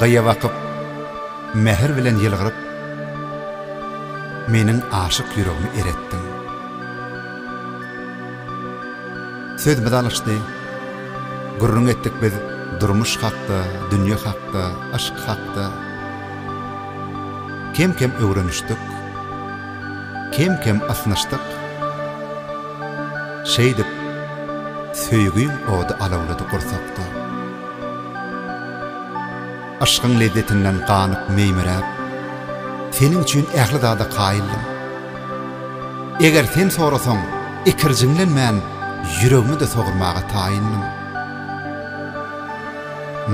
Gyýa bakyp, mähir bilen ýylgyryp, Meniň aşyk ýüregimi eretdiň. Sözümiz alyşdy, gürrüň etdik biz Durmuş hakda, dünýe hakda, yşk hakda. Kem-kem öwrenişdik, kem-kem ysnyşdyk, Şeýdip, söýgiň ody alawlady gursakda. Yşkyň lezzetinden ganyp meýmiräp, Seniň üçin ähli zada kaýyldym. Eger sen sorasaň, ikirjiňlen men Ýüregimi-de sogurmaga taýyndym.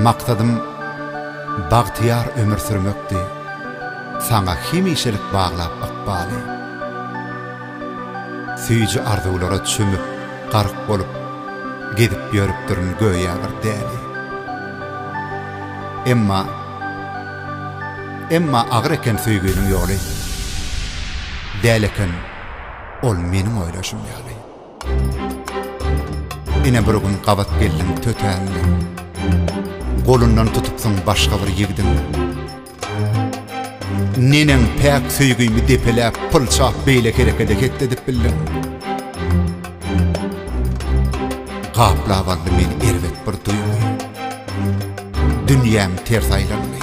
Maksadym bagtyýar ömür sürmekdi, Saňa hemişelik baglap ykbaly. Süýji arzuwlara çümüp, gark bolup, Gezip ýörüpdirin göýä bir däli. Emma, emma agyr eken söýginiň ýoly, Däl eken ol meniň oýlaşym ýaly. Ine bir gün gabat geldiň tötänleň, Golundan tutupsyň başga bir ýigdiň. Neneň päk söýgimi depeläp, pylçap beýle herekede hetledip bildiň? Gaplap aldy meni erbet bir duýgy. Dünýäm ters aýlandy.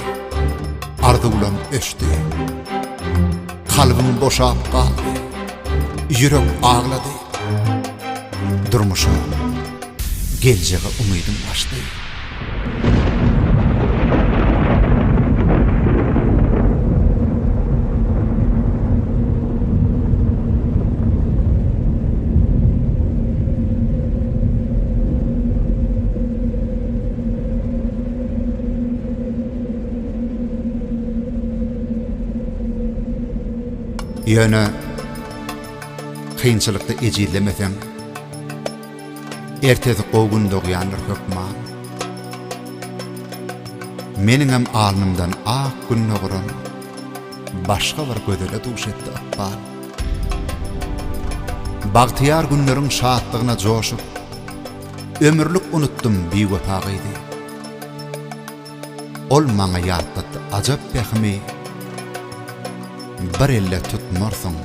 Arzuwlam öçdi. Kalbym boşap galdy. Ýürek aglady. Durmuşym Geljege umydym gaçdy. Ýöne kynçylykda ejizlemeseň, Ertesi gowy gün dogýandyr hökman. Meniňem alnymdan ak gün doguran başga bir gözele duş etdi ykbal. Bagtyýar günleriň şatlygyna joşup, ömürlik unutdym biwepa gyzy. Ol maňa ýatlatdy ajap pähimi, Bir elde tutmarsyň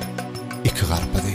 iki garpyzy.